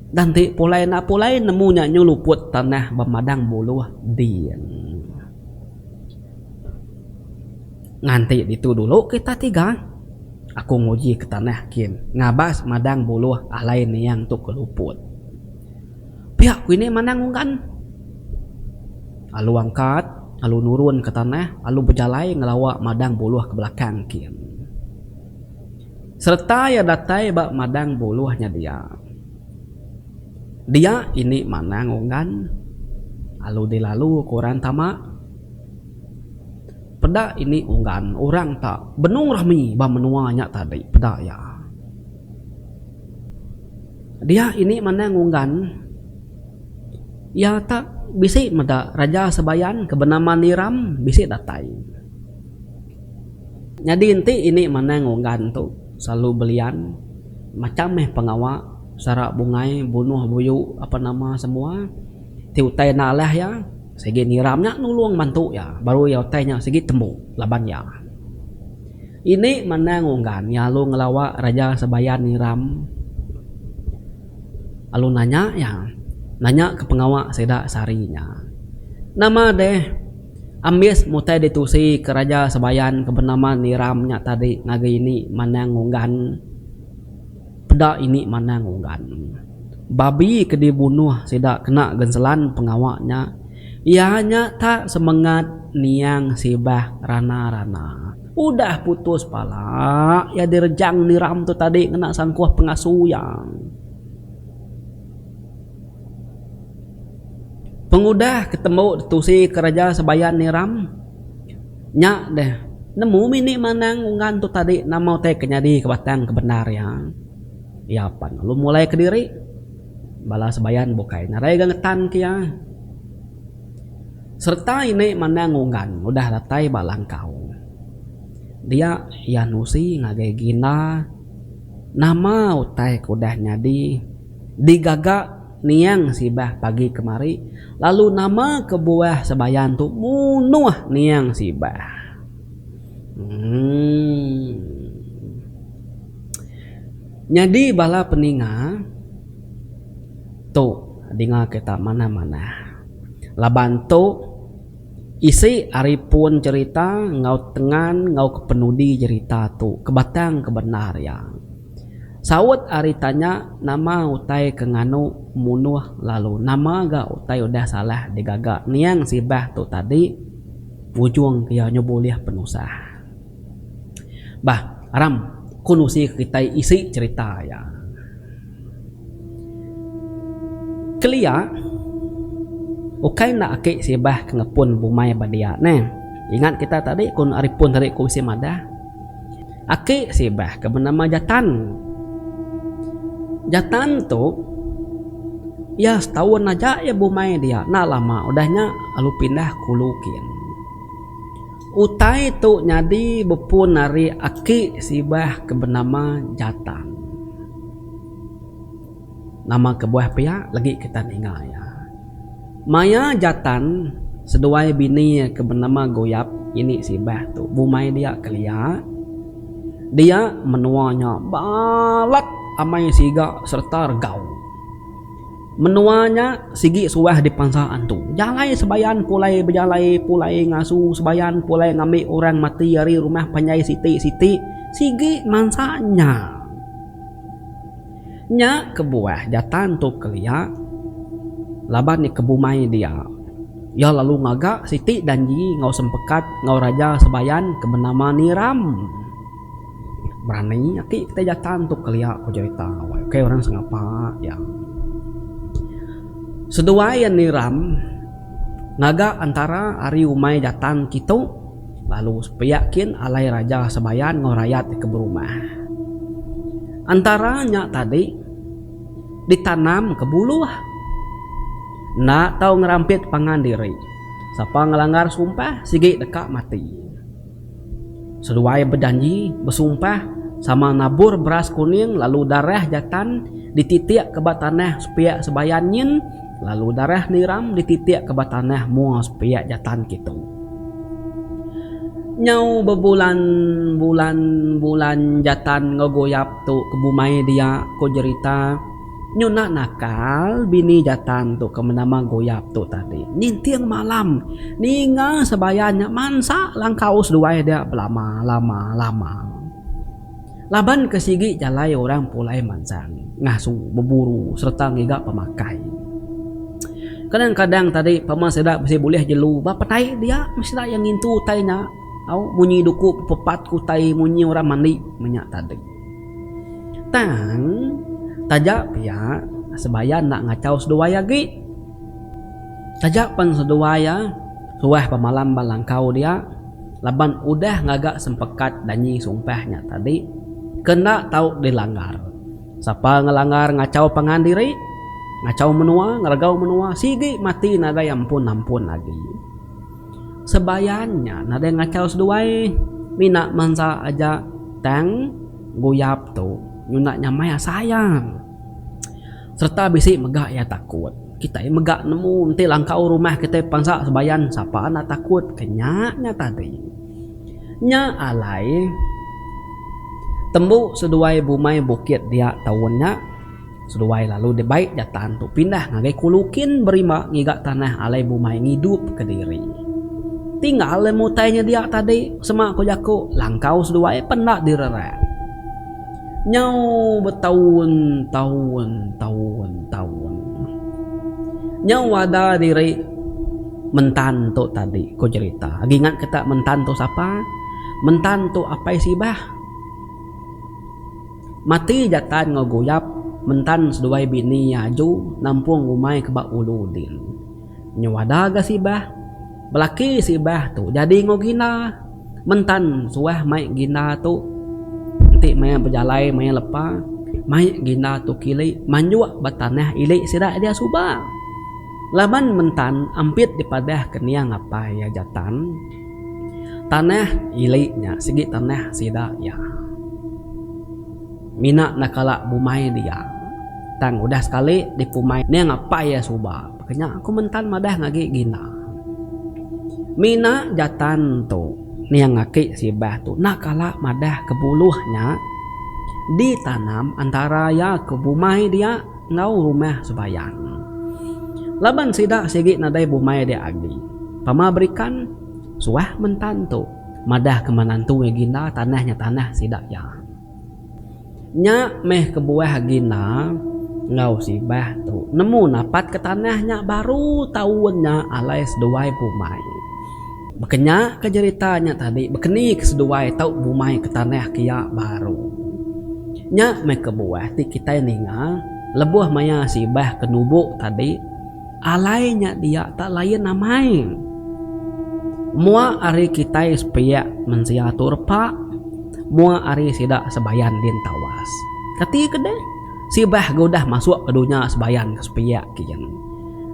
Dan ti pulai enda pulai nemu nya nyeluput tanah ba madang buluh din. Nganti ditu dulu kita tiga aku nguji ke tanah kin ngabas madang buluh alai niang tu ke luput. Pia ku ini manang unggan. Alu angkat alu nurun ke tanah alu bejalai ngelawa madang buluh ke belakang kin. Sereta iya datai ba madang buluh nya dia. Dia ini manang unggan alu dilalu ku orang tama. Peda ini unggan orang ta benung rami ba menua nya tadi peda iya. Dia ini manang unggan iya ta bisi meda Raja Sebayan ke benama Niram bisi datai. Nyadi enti ini manang onggan tu selalu belian macham meh pengawa sara bungai bunuh buyu apa nama semua ti utai enda alah iya sigi nyiram nya nulung bantu iya baru iya utai nya sigi tembu laban iya ini manang onggan iya lalu ngelawa raja sebayan nyiram lalu nanya iya nanya ke pengawa sida sehari nya nama deh. Ambis mutai ditusi ke raja Sebayan ke benama Niram nya tadi ngagai ini Manang Unggan peda ini Manang Unggan. Babi ke dibunuh sida kena genselan pengawa nya iya nya ta semengat niang sibah rana-rana. Udah putus pala iya direjang Niram tu tadi ngena sangkuh pengasu iya. Pengudah ke tembu ditusi kereja Sebayan Niram nya deh nemu mini manang ungan tu tadi nama utai ke nyadi ke batang ke bendar iya. Iya pan lalu mulai kediri bala Sebayan bukai nadai ga ngetan ke iya. Sereta ini manang ungan udah datai ba langkau dia iya nusi ngagai ginda nama utai ke udah nyadi. digaga niang sibah pagi kemari lalu nama kebuah sebayan tu munuh niang sibah emm nyadi bala peninga tu dinga kita manah manah laban tu isi ari pun cherita enggau tengan enggau kepenudi cherita tu kebatang kebendar iya. Saut ari tanya nama utai ke nganu munuh lalu nama ga utai udah salah digaga niang sibah tu tadi ujung ke iya nyau bulih penusah. Bah aram ku nusi ke kitai isi cerita iya. Kelia ukai enda aki sibah ke ngepun bumai ba dia neh. Ingat kita tadi ku ari pun tadi ku bisi madah. Aki Sibah ke benama Jatan. Jatan tu iya setaun aja iya bumai dia enda lama udah nya lalu pindah ke Ulu Kin. Utai tu nyadi bepun ari Aki Sibah ke benama Jatan. Nama kebuah pia legi kita ninga iya? Maya Jatan seduai bini iya ke benama Goyap ini sibah tu bumai dia kelia, dia menua nya balat amai siga sereta regau. Menua nya sigi suah dipansa antu. Jalai sebayan pulai bejalai pulai ngasu sebayan pulai ngambi orang mati ari rumah panjai siti-siti sigi mansa nya. Nya kebuah Jatan tu kelia laban iya ke bumai dia. Iya lalu ngaga siti janji enggau sempekat enggau raja Sebayan ke benama Niram. Berani ati kitai Jatan tu kelia ku jerita awai ukai orang sengapa iya. Seduai iya Niram ngaga entara ari umai Jatan kitu. lalu pia kin alai raja Sebayan enggau rayat ti ke berumah. Entara nya tadi ditanam ke buluh enda tau ngerampit pangan diri, sapa ngelanggar sumpah sigi deka mati. Seduai bejanji besumpah sama nabur beras kuning lalu darah jatan dititik ke ba tanah pia Sebayan nyin, lalu darah niram dititik ke ba tanah mua sepiak jatan kitu. Nyau bebulan bulan bulan jatan enggau goyap tu ke bumai dia, ko jerita. Nyu enda nakal bini jatan tu ke benama goyap tu tadi. Ninting malam ninga sebayan nya mansa langkau seduai dia belama lama lama. Laban ke sigi jalai orang pulai mansang ngasu, beburu sereta ngiga pemakai. Kadang-kadang tadi pama sida bisi bulih jelu ba petai dia meh sida iya ngintu utai nya tau munyi duku bepepat ke utai munyi orang mandi meh nya tadi. Tang taja pia sebaya enda ngachau seduai agi. Taja pen seduai iya suah pemalam ba langkau dia. laban udah ngaga sempekat danyi sumpah nya tadi kena tau dilanggar. Sapa ngelanggar ngachau pangan diri, ngachau menua, ngeregau menua sigi mati nadai ampun-ampun agi. Sebayan nya nadai ngachau seduai mina mansa aja tang guyap tu nyuna nyamai asai iya. sereta bisi mega iya takut. Kitai mega nemu enti langkau rumah kitai pansa sebayan sapa enda takut ke nya nya tadi. Nya alai tembu seduai bumai bukit dia taun nya seduai lalu dibai jatan tu pindah ngagai kulu kin berima ngiga tanah alai bumai ngidup ke diri. Ti ngalai mutai nya dia tadi sema ku jaku langkau seduai pun enda direrak. Nyau betaun taun taun taun. Nyau ada diri Mentan tu tadi ku jerita. Agi ingat ke tak Mentan tu sapa? Mentan tu Apai Sibah. Mati Jatan enggau Guyap, Mentan seduai bini iya aju nampung umai ke ba ulu din. Nyuada ga sibah. Belaki sibah tu jadi enggau gina. Mentan suah mai gina tu. Enti maya bejalai maya lepa, mai gina tu kili manjuk ba tanah ili sida dia suba. Laban mentan ampit dipadah kening apai iya Jatan, tanah ili nya sigi tanah sida iya. Mina enda kala bumai dia tang udah sekali dipumai ning apai iya suba. Kenya aku mentan madah ngagi gina. Mina jatan tu niang aki sibah tu enda kala madah ke buluh nya ditanam antara iya ke bumai dia enggau rumah sebayang. Laban sida sigi nadai bumai dia agi. Pama berikan suah mentan tu madah ke manantui gina tanah nya tanah sida iya. Nya meh kebuah agi enda enggau sibah tu nemu napat ke tanah nya baru taun nya alai seduai bumai. Baka nya ke jerita nya tadi bekeni ke seduai tu bumai ke tanah kia baru. Nya meh kebuah ti kitai ninga lebuh maya sibah ke nubo tadi. Alai nya dia tak lain amai. Mua ari kitai sepiak mensia tu repak, mua ari sida sebayan din tawas. Kati ke deh, sibah ke udah masuk ke dunya sebayan ke sepiak kian.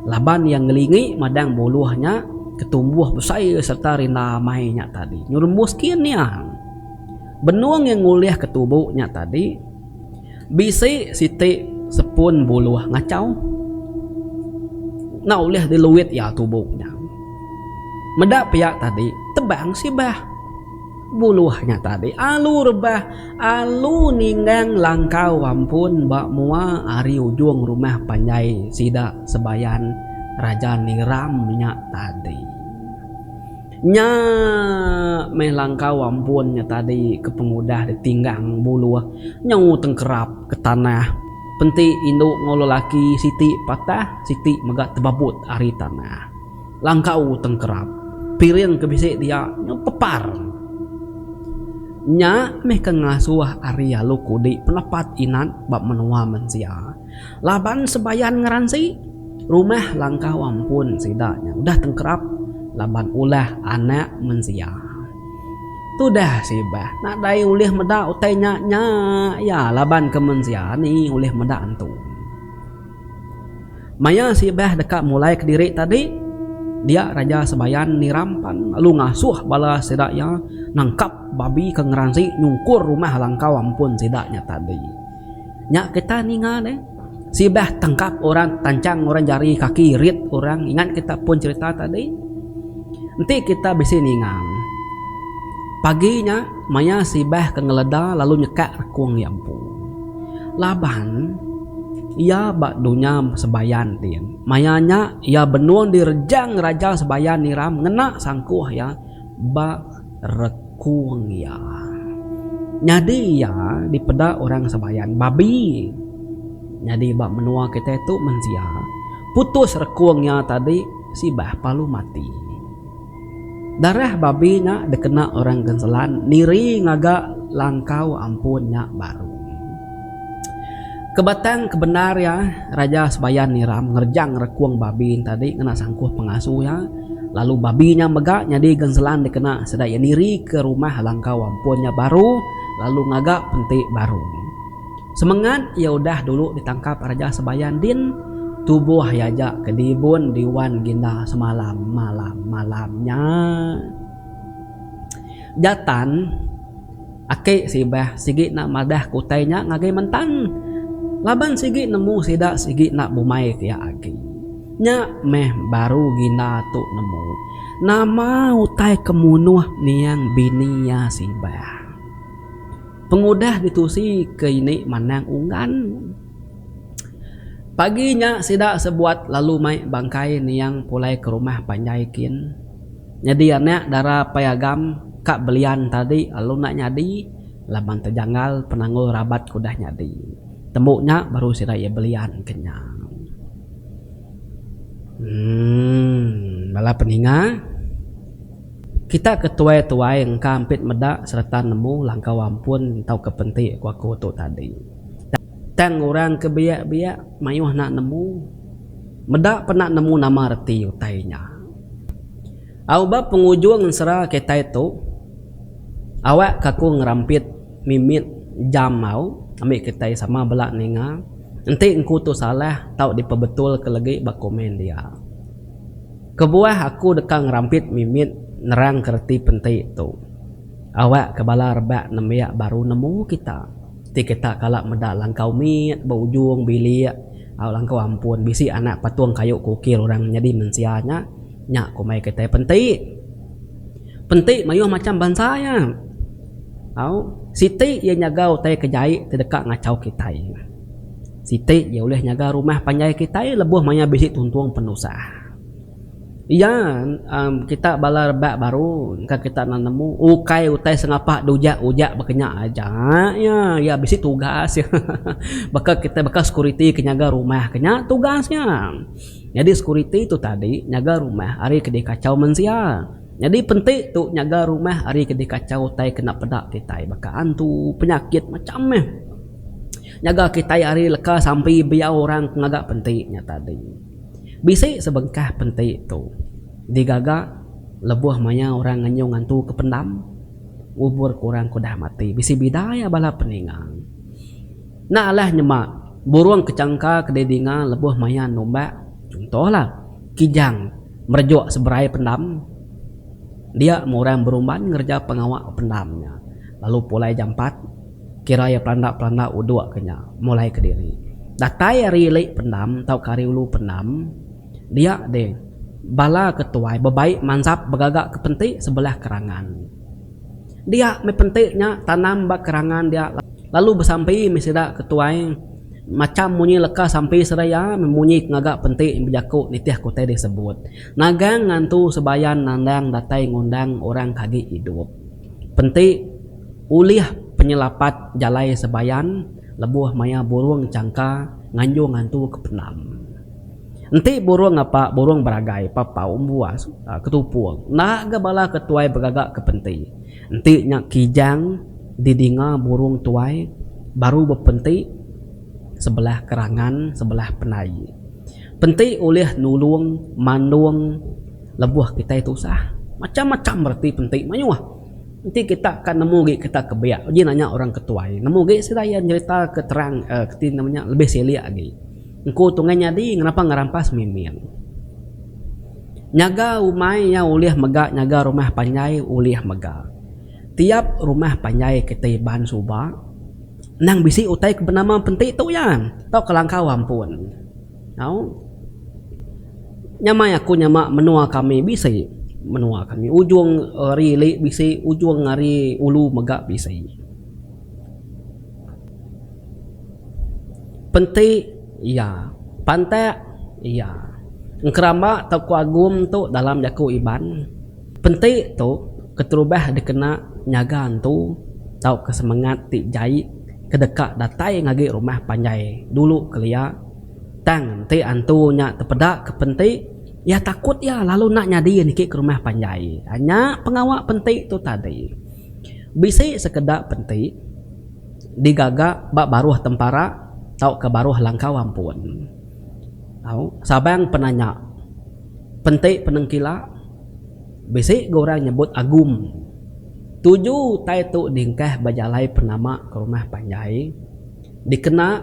Laban iya ngelingi madang buluh nya ke tumbuh besai sereta rinda amai nya tadi nyerumbus kian niang. Benung iya ngulih ke tubu nya tadi. Bisi siti sepun buluh ngachau enda ulih diluit iya tubu nya. Meda pia tadi tebang sibah buluh nya tadi alu rebah alu ninggang langkau ampun ba mua ari ujung rumah panjai sida Sebayan Raja Niram nya tadi. Nya meh langkau ampun nya tadi ke pengudah ditinggang buluh nyau tengkerap ke tanah. Penti indu enggau lelaki siti patah siti mega tebabut ari tanah. Langkau tengkerap. Piring ke bisi dia nyau pepar. Nya meh ke ngasuh ari alu kudi penepat inan ba menua mensia. Laban sebayan ngeransi, rumah langkau ampun sida nya udah tengkerap laban ulah Anak Mensia. Tudah sibah, nadai ulih meda utai nya nya iya laban ke mensia ni ulih meda antu. Maya sibah deka mulai kediri tadi, dia Raja Sebayan niram pan lalu ngasuh bala sida iya nangkap babi ke ngeransi nyungkur rumah langkau ampun sida nya tadi. Nya kita ninga ne sibah tangkap orang tanchang orang jari kaki rit orang ingat kita pun cerita tadi enti kita bisi ninga ne pagi nya maya sibah ke ngeleda lalu nyekak rekung iya empu laban iya ba dunya sembayan ti maya nya iya benung direjang raja sembayan niram ngena sangkuh iya ba rekung iya. Nyadi iya dipeda orang Sabayan babi. Nyadi ba menua kitai tu mensia putus rekung iya tadi sibah palu mati. Darah babi nya dikena orang Genselan niri ngaga langkau ampun nya baru. Kebatang ke bendar iya, Raja Sebayan Niram nerjang rekung babi nya tadi ngena sangkuh pengasu iya, lalu babi nya mega nyadi genselan dikena sida iya nirika rumah langkau ampun iya baru lalu ngaga penti baru. Semengat iya udah dulu ditangkap Raja Sebayan din, tubuh iya aja ke dibun diwan ginda semalam malam-malam nya. Jatan. Aki Sibah sigi enda madah ke utai nya ngagai Mentan laban sigi nemu sida sigi enda bumai pia agi. Nya meh baru Gina tu nemu nama utai ke munuh niang bini iya Sibah. Pengudah ditusi ke ini manang unggan. Pagi nya sida sebuat lalu mai bangkai niang pulai ke rumah panjai kin. Nyadi anak dara Pai Agam ka belian tadi lalu enda nyadi laban tejanggal penanggul rabat ke udah nyadi. Tembu nya baru sida iya belian ke nya. Emm bala peninga kita ke tuai-tuai engka ampit meda sereta nemu langkau ampun tauka penti ku aku tu tadi. Tang orang ke biak-biak mayuh enda nemu meda pun enda nemu nama reti utai nya. Au ba pengujung ensera kitai tu, awak ke aku ngerampit mimit jam au ambi kitai sama bela ninga enti engku tu salah tau dipebetulka legi ba komen dia. Kebuah aku deka ngerampit mimit nerangka reti penti tu, awak ke bala rebak nembiak baru nemu kita ti kita kala meda langkau mit ba ujung bilik. Au langkau ampun bisi anak patung kayu ke ukir orang nyadi mensia nya, nya ku mai kitai penti. Penti mayuh macham bansa iya. Au, siti iya nyaga utai ke jai ti deka ngachau kitai. Siti iya ulih nyaga rumah panjai kitai lebuh maya bisi tuntung penusah. Iya, kita bala rebak baru engka kita enda nemu ukai utai sengapa diujak-ujak baka nya aja iya. Iya bisi tugas iya. Baka kitai baka security ke nyaga rumah ke nya tugas nya. Nyadi security tu tadi nyaga rumah ari ke dikachau mensia. Nyadi penti tu nyaga rumah ari ke dikachau utai ke enda peda kitai baka antu, penyakit macam meh. Nyaga kitai ari leka sampi biau orang ke ngaga penti nya tadi. Bisi sebengkah penti tu digaga lebuh maya orang ngenyung antu ke pendam ngubur ke orang ke udah mati. Bisi bida iya bala peninga. Enda alah nyema burung ke changka ke didinga lebuh maya numbak chunto lah Kijang merejuk seberai pendam dia meh orang berumban ngereja pengawa pendam nya lalu pulai jampat. Kira iya pelanda-pelanda uduk ke nya mulai kediri. Datai ari ili pendam tauka ari ulu pendam, dia deh bala ke tuai bebai mansap begaga ke penti sebelah kerangan. Dia meh penti nya tanam ba kerangan dia lalu besampi meh sida ke tuai macham munyi leka sampi sida iya meh munyi ke ngaga penti bejaku nitih ke utai disebut nagang ngantu sebayan nandang datai ngundang orang ke agi idup. Penti, Ulih penyelapat jalai sebayan lebuh maya burung changka nganjung ngantu ke pendam. Enti burung ngapa burung beragai, papau, embuas, ketupung enda ga bala ke tuai begaga ke penti. Enti nya kijang didinga burung tuai baru bepenti sebelah kerangan sebelah penai. Penti ulih nulung mandung. Lebuh kitai tusah, macham-macham reti penti mayuh. Enti kita ka nemu agi kita ke biak uji nanya orang ke tuai, nemu agi sida iya nyerita ke terang ke ti nama nya lebih silik agi. Engku Tunggai Nyadi ngenapa ngerampas Miming. Nyaga umai iya ulih mega nyaga rumah panjai ulih mega. Tiap rumah panjai ke ti ban suba endang bisi utai ke benama penti tu iya tauka langkau ampun. Au. Nyamai aku nyama menua kami bisi menua kami ujung ari ili bisi ujung ari ulu mega bisi. Penti iya, pantak iya. Engkeramba tauka agum tu dalam jaku Iban. Penti tu keterubah dikena nyaga entu tauka semengat ti jai ke deka datai ngagi rumah panjai dulu kelia. Tang enti antu nya tepeda ke penti, iya takut iya lalu enda nyadi niki ke rumah panjai. Nya pengawa penti tu tadi. Bisi sekeda penti digaga ba baruh tempara tauka baruh langkau ampun. Au, sabang pena nya. Penti penengkila, Bisi ga orang nyebut agum. Tuju utai tu dingkah ba jalai penama ke rumah panjai dikena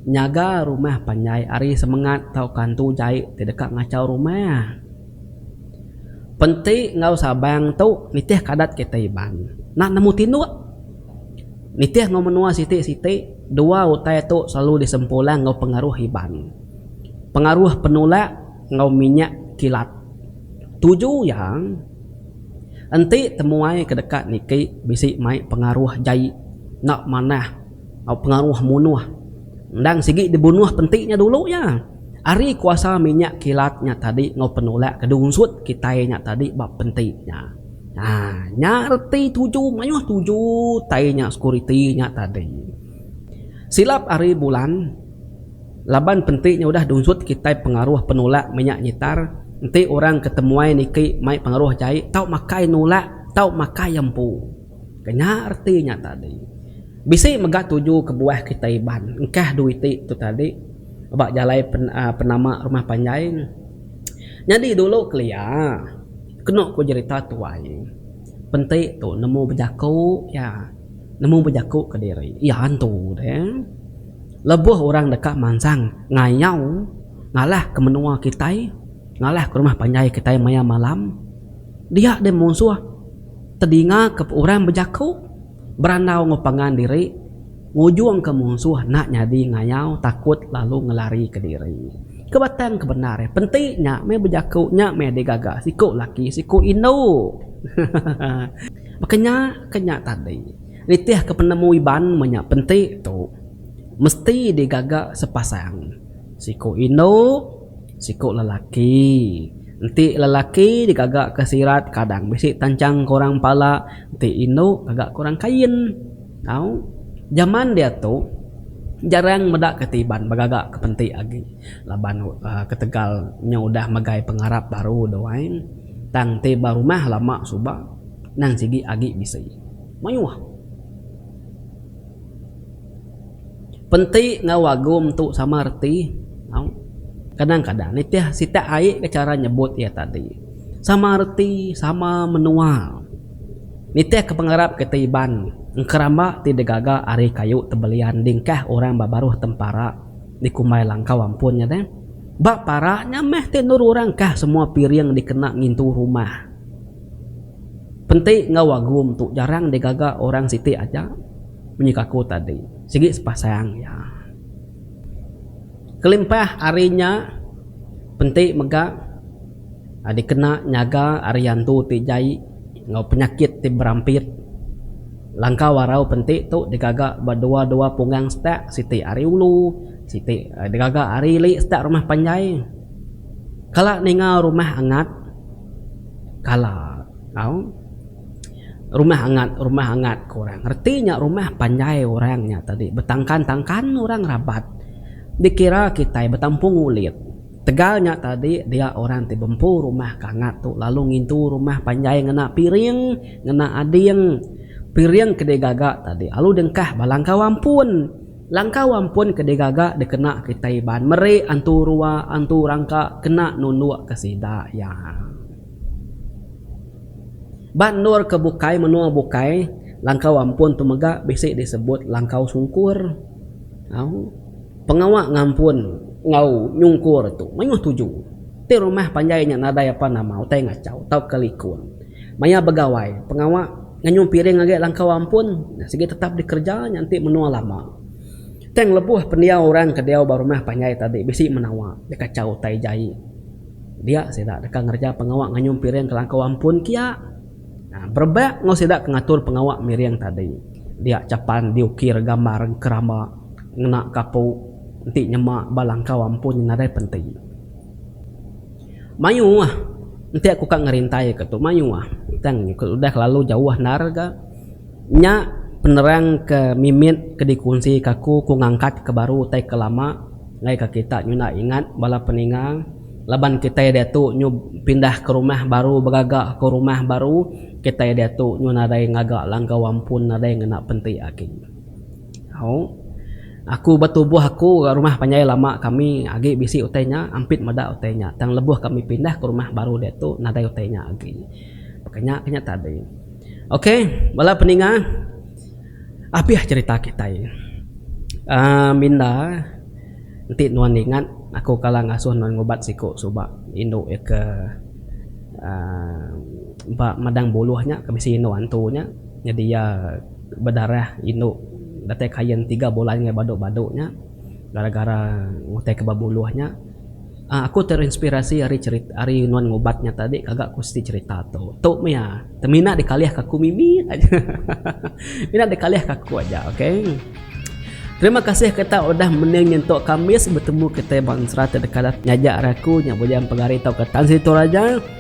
nyaga rumah panjai ari semengat tauka hantu jai ti deka ngachau rumah. Penti enggau sabang tu nitihka adat kitai Iban. Enda nemu tinduk. Nitih enggau menua siti-siti, dua utai tu selalu disempulang enggau pengaruh Iban. Pengaruh penulak. enggau minyak kilat. Tuju iya enti temuai ke deka niki bisi mai pengaruh jai enda manah enggau pengaruh munuh. Endang sigi dibunuh penti nya dulu iya. Ari kuasa minyak kilat nya tadi enggau penolak ke diunsut kitai nya tadi ba penti nya. Haa nya reti tuju mayuh tuju tai nya security nya tadi. Silap ari bulan. Laban penti nya udah dunsut kitai pengaruh penulak menya nyitar, enti orang ke temuai niki mai pengaruh jai tau makai nulak tau makai empu. Ke nya reti nya tadi. Bisi mega tuju kebuah kitai Iban engkah dui ti tu tadi ba jalai penama rumah panjai. Nyadi dulu kelia kenu ku jerita tuai penti tu nemu bejaku iya nemu bejaku kediri iya antu deh. lebuh orang deka mansang ngayau ngalahka menua kitai, ngalahka rumah panjai kitai maya malam, dia deh munsuh tedingaka orang bejaku berandau enggau pangan diri ngujungka munsuh enda nyadi ngayau takut lalu ngelarika diri. Ke batang ke bendar eh penti nya meh bejaku nya meh digaga siku laki siku indu. Baka nya ke nya tadi. Nitihka penemu Iban menya penti tu mesti digaga sepasang, siku indu, siku lelaki. Enti lelaki digaga ke sirat kadang bisi tanchang kurang pala, enti indu gaga kurang kain. Tau. Jaman diatu jarang meda kati Iban begaga ke penti agi laban ketegal nya udah megai pengarap baru doai. Tang ti ba rumah lama suba endang sigi agi bisi. Mayuh. Penti enggau agum tu sama reti tau. Kadang-kadang nitih sitak ai ka chara nyebut iya tadi. Sama reti, sama menua. Nitih ka pengarap kitai Iban, engkeramba ti digaga ari kayu tebelian dingkah orang ba baruh tempara dikumbai langkau ampun nya deh. Ba para nya meh ti endur orang kah semua piring dikena ngintu rumah. Penti enggau agum tu jarang digaga orang siti aja menyaka aku tadi sigi sepasang iya. Kelimpah ari nya penti mega dikena nyaga ari antu ti jai enggau penyakit ti berampit. Langkau arau penti tu digaga ba dua-dua punggang setak siti ari ulu siti digaga ari ili setak rumah panjai. Kala ninga rumah angat. kala tau rumah angat rumah angat ku orang reti nya rumah panjai orang nya tadi betangkan tangkan orang rabat dikira kitai betampung ulit tegal nya tadi dia orang ti bempu rumah ke angat tu lalu ngintu rumah panjai ngena piring ngena ading piring ke digaga tadi lalu dengkah bala engkau ampun. Langkau ampun ke digaga dikena kitai Iban meri antu rua antu rangka kena nunduk ke sida iya. Ba endur ke bukai menua bukai, langkau ampun tu mega bisi disebut langkau sungkur. Au, pengawa ngampun enggau nyungkur tu mayuh tuju. Ti rumah panjai nya nadai apa nama utai ngachau tauka likun maya begawai pengawa. Ngayuh piring agi langkau ampun sigi tetap dikereja nya enti menua lama. Tang lebuh pendiau orang ke diau ba rumah panjai tadi bisi menawa iya kachau utai jai dia sida deka ngereja pengawa ngayuh piring ke langkau ampun kia berebak enggau sida ke ngatur pengawa miring tadi dia cha pan diukir gambar engkeramba ngena kapu enti nyema ba langkau ampun nadai penti. Mayuh ah enti aku ka ngerintai ka tu mayuh ah tang udah kelalu jauh endar ga nya penerang ke mimit ke dikunsi ka aku ku ngangkat ke baru tai ke lama ngai ka kita nyuda ingat bala peninga laban kitai diatu nyu pindah ke rumah baru begaga ke rumah baru kitai diatu nyu nadai ngaga langkau ampun nadai ngena penti agi. Au. Aku ba tubuh aku ga rumah panjai lama kami agi bisi utai nya ampit meda utai nya tang lebuh kami pindah ke rumah baru diatu nadai utai nya agi. Baka nya ke nya tadi. Ok bala peninga apih cerita kitai uhh minda enti nuan ingat aku kala ngasuh nuan ngubat siku suba indu iya ke uhh ba madang buluh nya ke bisi indu antu nya. Nyadi iya bedarah indu datai kain tiga bulan ngai badu-badu nya gara-gara ngutaika bebuluh nya. Aaa aku terinspirasi ari cerita ari nuan ngubat nya tadi kaga ku siti cerita tu. Tu mih iya te mina dikalihka aku mimi aja hahaha mina dikalihka aku aja okay. Terima kasih kita udah mending nyentuk kamis betemu kitai ba ensera te deka nyaja ari aku nya buaya empedu hari tauka tan siti tu raja.